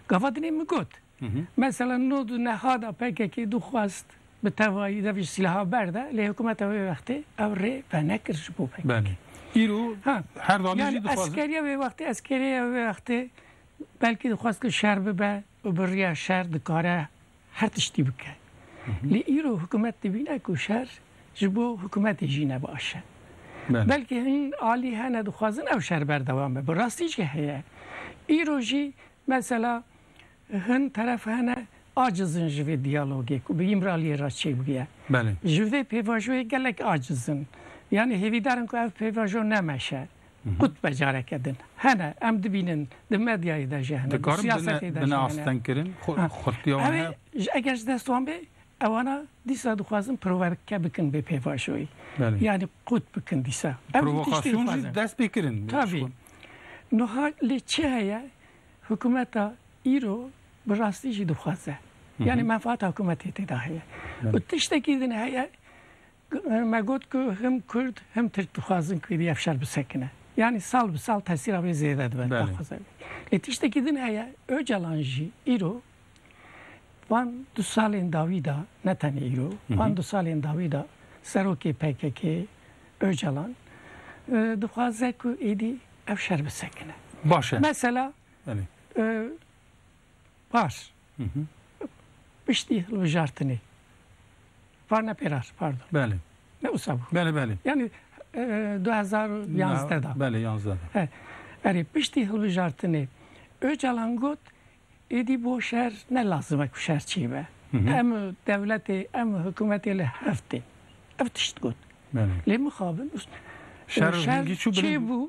Gava dinê min got mesela no du nexada PKK dixwast bi tevayî de vê sîlaha berde lê hikûmeta wê wextê ew rê venekir ji bo PKK. Belê. Îro her danî jî dixwazin. Eskeriya wê wextê eskeriya wê wextê belkî dixwast ku şer bibe û bi riya şer dikare Her tiştî bike. Lê îro hikûmet dibîne ku şer ji bo hikûmetê jî ne baş e. Belkî hin alî hene dixwazin ew şer berdewam be. Bi rastî jî heye. Îro jî mesela hin teref hene aciz in ji vê diyalogê ku bi Îmraliyê re çêbûye. Ji vê pêvajoyê gelek aciz in. Yanî hêvîdar in ku ev pêvajo nemeşe. Kut be careke din hene em dibînin di medyayê de jî hene, di siyasetê de jî hene. Eger ji dest wan bê ewana dîsa dixwazin proverke bikin bê pêvajoyî. Yanî qut bikin dîsa. Provokasyon jî dest pê kirin. Tabî. Nuha lê çi heye hikumeta îro bi rastî jî dixwaze. Yanî menfaata hikumetê tê de heye. Û tiştekî din heye Me got ku him Kurd him Tirk dixwazin ku vî efşar bisekine. Yanî sal bi sal tesîra wê zêde dibe. Lê tiştekî din heye, Ocalan jî îro van du salên dawî de, ne tenê îro, van du salên dawî de serokê PKK'ê Ocalan dixwaze ku êdî efşar bisekine. Baş e. Mesela Pars. Piştî hilbijartinê. Var ne pêras, pardon. Belê. Ne wisa bû. Belê, belê. Yanî du hezar û yanzdeh da. Belê, yanzdeh da. He. Erê, piştî hilbijartinê Ocalan got êdî bo şer ne lazim e ku şer çê be. Em dewletê, em hikûmetê li hev tên. Ev tişt got. Belê. Lê mixabin. Şer çê bû.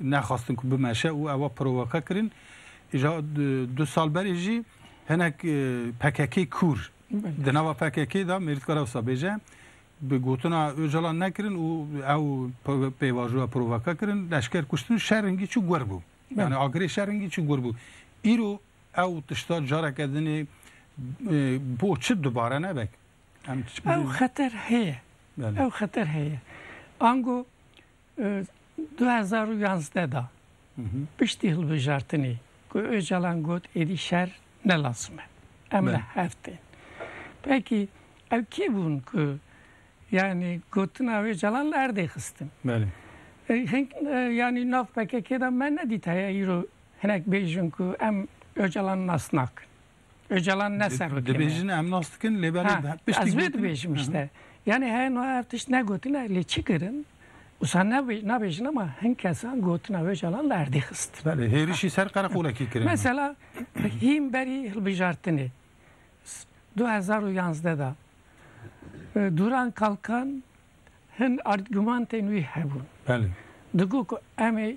Nexwestin ku bimeşe û ewa provoke kirin. Îja du sal berê jî hinek pkk kûr di nava pkk de mêr dikare wisa bêje bi gotina Ocalan nekirin û ew pêvajoya provoke kirin leşker kuştin şer hingî çû guer bû. Yani agirê şer hingî çû guer bû. Îro ew tişta careke dinê bo çi dubare nebek. Ew xeter heye. Ew xeter heye. Ango Du hezar û yazdeh de piştî hilbijartinê ku Ocalan got êdî şer ne lazim e, em li hev tên. Pekî ew kê bûn ku yanî gotina Ocalan li erdê xistin? Hink yanî nav PKK'ê de me nedît heye îro hinek bêjin ku em Ocalan nas nakin. Öcalan ne serokê. Dibêjin em nas dikin lê belê piştî. Ez vê dibêjim işte. Yani he no ev tişt ne gotine lê çi kirin? Usa ne nabêjin ama hin kesan gotina Öcalan li erdê xist. Belê hêrişî ser qereqolekî kirin. Mesela hîm berî hilbijartinê 2011 da Duran Kalkan hin argumantên wî hebûn. Belê. Digot ku em ê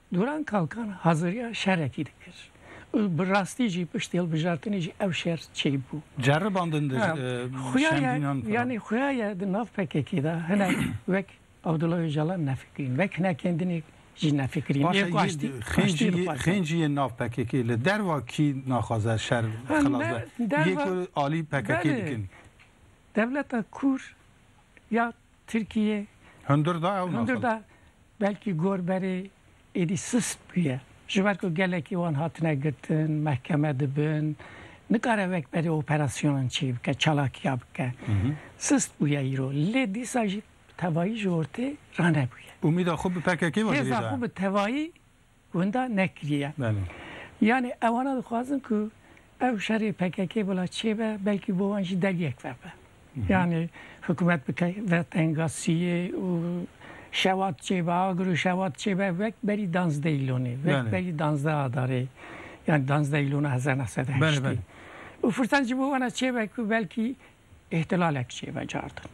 Duran Kalkan haziriya şerekî dikir û bi rastî jî piştî hilbijartinê jî ev şer çêbû. Ceribandindir şemdînan filan. Yanî xuya ye di nav PKK'ê de hinek wek Abdullah Ocalan nefikirîn, wek hinek kendinê jî nefikirîn. Baş e jî xêncî jî yên nav PKK'ê li derva kî naxwaze şer xilas be? Yê ku alî PKK'ê dikin. Dewleta Kûr ya Tirkîyê. Hundir da ew naxwaze. Belkî gor berê êdî sist bûye. Ji ber ku gelekî wan hatine girtin, mehkeme dibin, nikare wek berê operasyonan çêy bike, çalakiya bike. Sist bûye îro. Lê dîsa jî bi tevayî ji ortê ranebûye. Umîda xwe bi pkk ve jî hêza. Hêza xwe bi tevayî winda nekiriye. Yanî ewana dixwazin ku ew şerê pkk bila çêbe belkî bo wan jî dergek vebe. Yanî hikûmet bike ve tenga siyê û şewat çêbe agir û şewat çêbe wek berî danzdeh îlonê wek berî danzdeh adarê yanî danzdeh îlona hezar neh sed û heştê û firsan jî bo wana çêbe ku belkî Îhtilalek jê vecardin.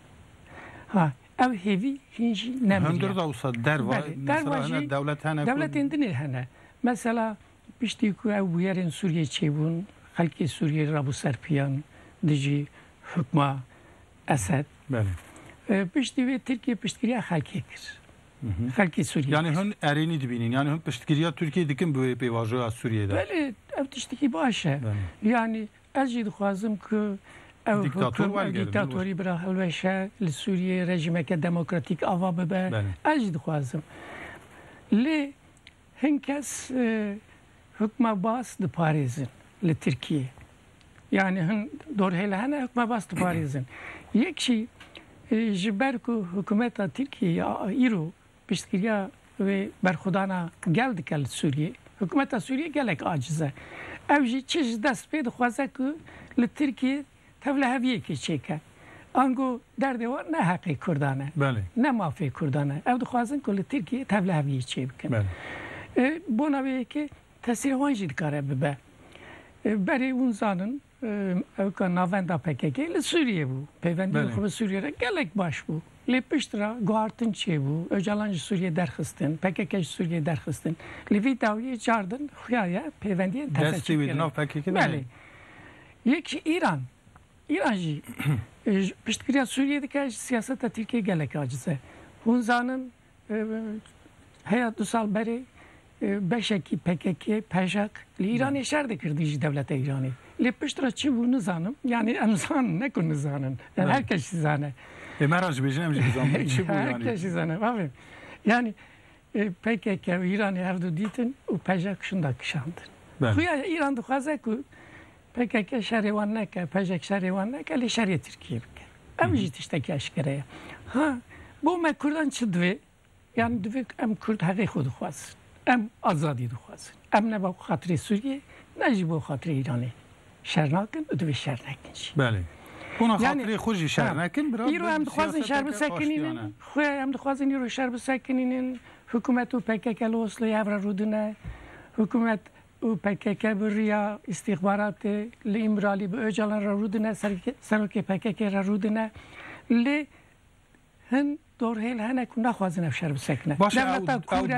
Ha ev hêvî hîn jî ne miriye. Hundir dewsa derva. Belê, derva jî dewletên din ê hene. Mesela piştî ku ew bûyerên Sûriyeyê çêbûn, xelkê Sûriyeyê rabû ser piyan dijî hukma Esed. Belê. Piştî wê Tirkiye piştgiriya xelkê kir. Xelkê Sûriyeyê. Yanî hûn erênî dibînin. Yanî hûn piştgiriya Tirkiyeyê dikin bi wê pêvajoya Sûriyeyê de. Belê, ew tiştekî baş e. Yanî Ez jî dixwazim ku ew Dîktator welgerin, ew dîktatorî bira hilweşe, li Sûriyeyê rejîmeke demokratîk ava bibe, ez jî dixwazim. Lê hin kes hukma Baas diparêzin li Tirkiyeyê. Yanî hin dorhêl hene hukma Baas diparêzin. Yek jî ji ber ku hikûmeta Tirkiyeyê ya îro Piştgiriya wê berxwedana gel dike li Sûriyê. Hikûmeta Sûriyê gelek aciz e. Ew jî çi ji dest bê dixwaze ku li Tirkiyê tevliheviyekê çêke. Ango derdê wan ne heqê Kurdan e. Ne mafê Kurdan e. Ew dixwazin ku li Tirkiyê tevliheviyê çêbikin. Bona wê yekê tesirê wan jî dikare bibe. Berê hûn zanin Ew ka navenda pkk li Sûriyê bû. Pêvendiyên xwe bi Sûriyê re gelek baş bû. Lê pişt re guhartin çêbû. Ocalan ji Sûriyê derxistin. Pkk ji Sûriyê derxistin. Li vî dawiyê çar din xuya ye pêvendiyên teze çêkirin. Destê wê di nav pkk de heye? Belê. Yek jî Îran. Îran jî piştgiriya Sûriyê dike ji siyaseta Tirkiyê gelek aciz e. Hûn zanin Heya du sal berê beşekî pkk, pejk, li Îranê şer dikirdî ji dewleta Îranê. Lê pişt re çi bû nizanim. Yanî em zanin ne ku nizanin. Em her kes jî zane. Lê me re jî bêjin em jî bizanbin çi bû yanî. Her kes jî zane bavê. Yanî pkk û Îranê hevdu dîtin û pejk şinda kişandin. Xuya Îran dixwaze ku PKK şerê wan neke, pejek şerê wan neke lê şerê Tirkiyê bike. Ev jî tiştekî eşkere ye. Ha bo me Kurdan çi divê? Yani divê ku em Kurd heqê xwe dixwazin. Em azadî dixwazin. Em ne bo xatirê Sûriyê ne jî bo xatirê Îranê şer nakin û divê şer nekin jî. Belê. Hûna xatirê xwe jî şer nekin. Îro em dixwazin şer bisekinînin. Xwe em dixwazin îro şer bisekinînin. Hikûmet û PKK li Osloyê hev re rûdine. Hikûmet û pkk bi riya îstîxbaratê li Îmralî bi Ocalan re rûdine, serokê pkk re rûdine lê hin dorhêl hene ku naxwazin ev şer bisekine. Baş e ew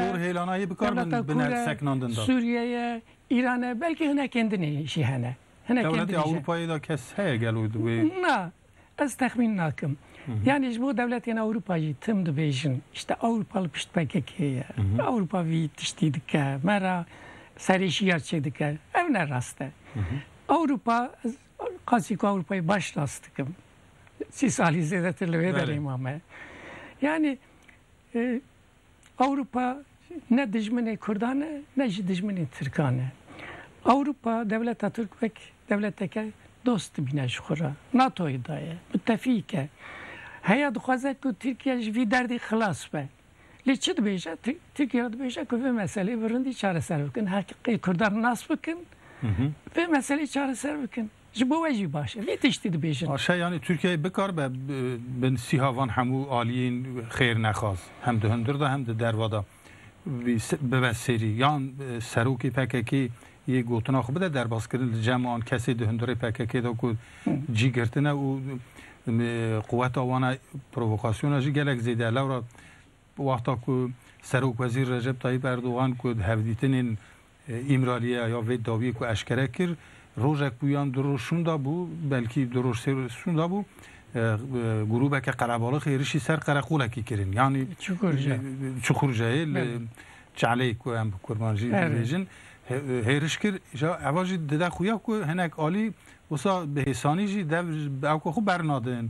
dorhêlana yê bikar bin bine seknandin da. Sûriye ye, Îran e belkî hinekên din jî hene. Dewletê Ewropayê de kes heye gelo di wê? Na. Ez texmîn nakim. Yanî ji bo dewletên Ewropa jî tim dibêjin îşte Ewropa li pişt PKK'ê ye. Ewropa vî tiştî dike, me re serê şiyar çêdike. Ev ne rast e. Ewropa ez qasî ku Ewropayê baş nas dikim. Sî salî zêdetir li vê derê mame. Yanî Ewropa ne dijminê Kurdan e ne jî dijminê Tirkan e. Ewropa dewleta Tirk wek dewleteke dost dibîne ji xwe re. NATO'yê de ye, mutefîk e. Heya dixwaze ku Tirkiye ji vî derdê xilas be. Lê çi dibêje? Tirkiye dibêje ku vê meseleyê bi rindî çareser bikin. Heqê Kurdan nas bikin, vê meseleyê çareser bikin. Ji bo we jî baş e vê tiştî dibêjin. Aşe yanî Tirkiyeyê bikaribe bi sîha van hemû aliyên xêrnexwaz hem di hundir de hem di derve de bibe serî yan serokê pkk yê gotina xwe bide derbazkirin li cem an kesê di hundirê pkk de ku cî girtine û quweta wan e provokasyona jî gelek zêde ye lewra wexta ku serokwezîr Recep Tayîp Erdogan ku di hevdîtinên Îmrariya ya vê dawiyê ku eşkere kir, rojek bû yan du roj şûnda bû, belkî du roj sê roj şûnda bû, grûbeke qelebalix êrişî ser qereqolekî kirin. Yanî Çukurceyê li Çeleyê ku em bi kurmanjî dibêjin hêriş kir. Îja eva jî dide xuya ku hinek alî wisa bi hêsanî jî dev bi ew ku xwe bernadin.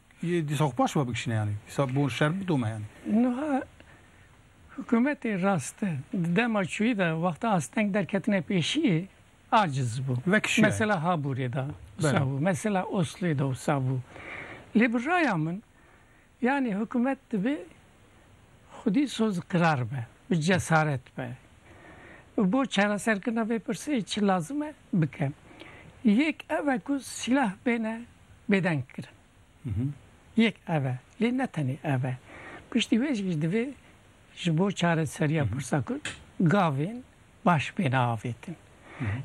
Yê dîsa xwe paş ve bikişîne yanî. Dîsa bo şer bidome yanî. Nuha hikûmetê rast e. Di dema çûyî de wexta asteng derketine pêşiyê aciz bû. Vekişî ye. Mesela Haburê de wisa bû. Mesela Oslûyê de wisa bû. Lê bi raya min yanî hikûmet dibê xwedî sozqirar be, bi cesaret be û bo çareserkirina vê pirsê çi lazim e bike. Yek ev e ku sîlah bêne bêdeng kirin. Yek ev e, lê ne tenê ev e. Piştî wê jî divê ji bo çareseriya pirsa ku gavên baş bêne avêtin.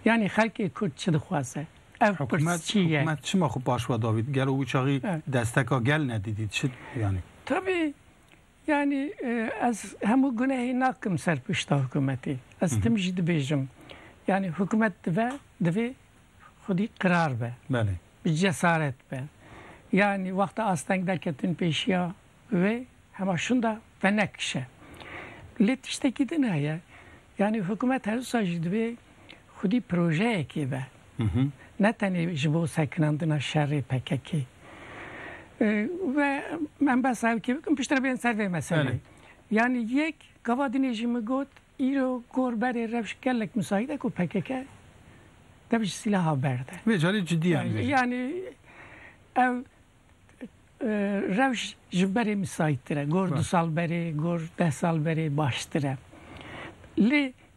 Yanî xelkê Kurd çi dixwaze? Ev pirs çi ye? Hikûmet çima xwe paşve davît? Gelo wî çaxî desteka gel nedîdît? Çi yanî? Tabî Yanî ez hemû gunehê nakim ser pişta hikûmetê. Ez tim jî dibêjim yanî hikûmet dibe divê xwedî qirar be. Belê. Bi cesaret be. Yanî wexta asteng neketin pêşiya wê hema şinda venekişe. Lê tiştekî din heye. Yanî hikûmet her wisa jî divê xwedî projeyekê be, ne tenê ji bo sekinandina şerê PKK'ê. Ve em behsa ew kê bikim, piştre bên ser vê meselê. Yanî yek, gava dinê jî min got, îro gor berê rewş gelek misaîd e ku pkk dev ji sîlaha berde. Vê carî cidî em dibêjin. Yanî ew rewş ji berê misaîdtir e. Gor du sal berê, gor deh sal berê baştir e. Lê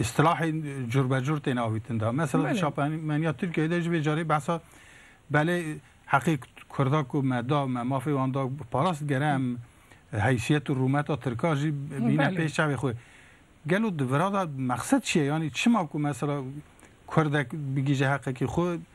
Îstilahên curbecur tên avîtin da. Mesela di çapemeniya Tirkiyeyê de ji vê carê behsa belê heqê Kurda ku me da, me mafê wan da parast gere em heysiyet û rûmeta Tirka jî bîne pêş çavê xwe. Gelo di vira de mexsed çi ye? Yanî çima ku mesela Kurdek bigihîje heqekî xwe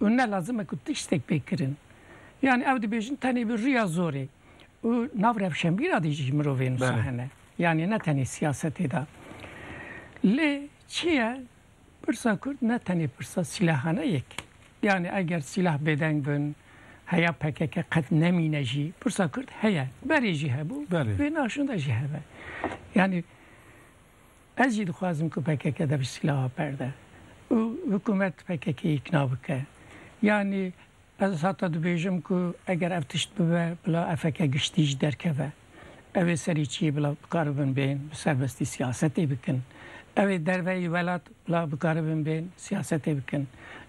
û ne lazim e ku tiştek pê kirin. Yanî ew dibêjin tenê bi riya zorê û nav rewşenbîra de jî mirovên wisa hene. Yanî ne tenê siyasetê de. Lê çi ye pirsa kurd ne tenê pirsa sîlahan e yek. Yanî eger sîlah bêdeng bin heya pkk qet nemîne jî pirsa kurd heye. Berê jî hebû, wê naşûn de jî hebe. Yanî Ez jî dixwazim ku pkk de bi sîlaha perde û hikûmet pkk îkna bike. Yanî ez hata dibêjim ku eger ev tişt bibe bila efeke giştî ji derkeve. Ew ê serî çiyê bila bikaribin bên bi serbestî siyasetê bikin. Ew ê derve yê welat La bikaribin bên siyasetê bikin.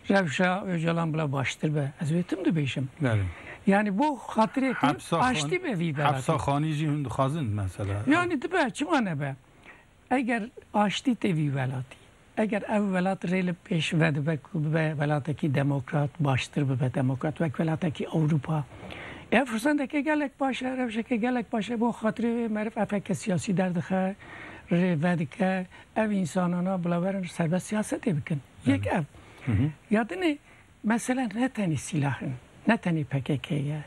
Rewşa Ocalan bila baştir be. Ez wê tim dibêjim. Belê. Yanî bo xatirê tim Hepsa xan- aştî be vî delatê. Hepsa xanî jî hûn dixwazin mesela. Yanî dibe çima nebe. Eger aştî tê vî welatî. Eger ev welat rê li pêş vedibe ku bibe welatekî demokrat baştir bibe demokrat wek welatekî Ewropa. Ev firsendeke gelek baş e, rewşeke gelek baş e. Bo xatirê wê meriv efeke siyasî derdixe, rê vedike, Ev însanana bila werin serbet siyasetê bikin. Yek ev. Ya din e mesela ne tenê sîlah in, ne tenê pkk ye,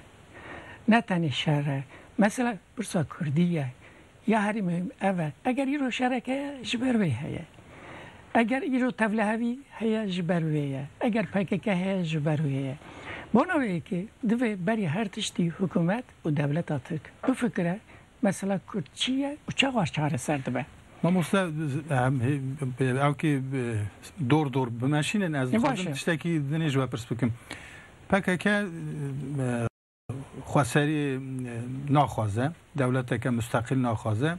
ne tenê şer e. Mesela pirsa kurdî ye. Ya herî muhîm ev e. Eger îro şerek heye ji ber wê heye. Eger îro tevlihevî heye ji ber wê ye. Eger pkk heye ji ber wê ye. Bona wê yekê divê berî her tiştî hikûmet û dewleta Tirk bifikire Mesela Kurd çi ye û çawa çareser dibe? Mamoste ewkî dor dor bimeşînin ez dixwazim tiştekî dinê ji we pirs bikim. Pkk xweserî naxwaze, dewleteke musteqîl naxwaze.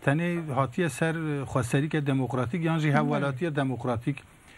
Tenê hatiye ser xweserîke demokratîk yan jî hevwelatîye demokratîk.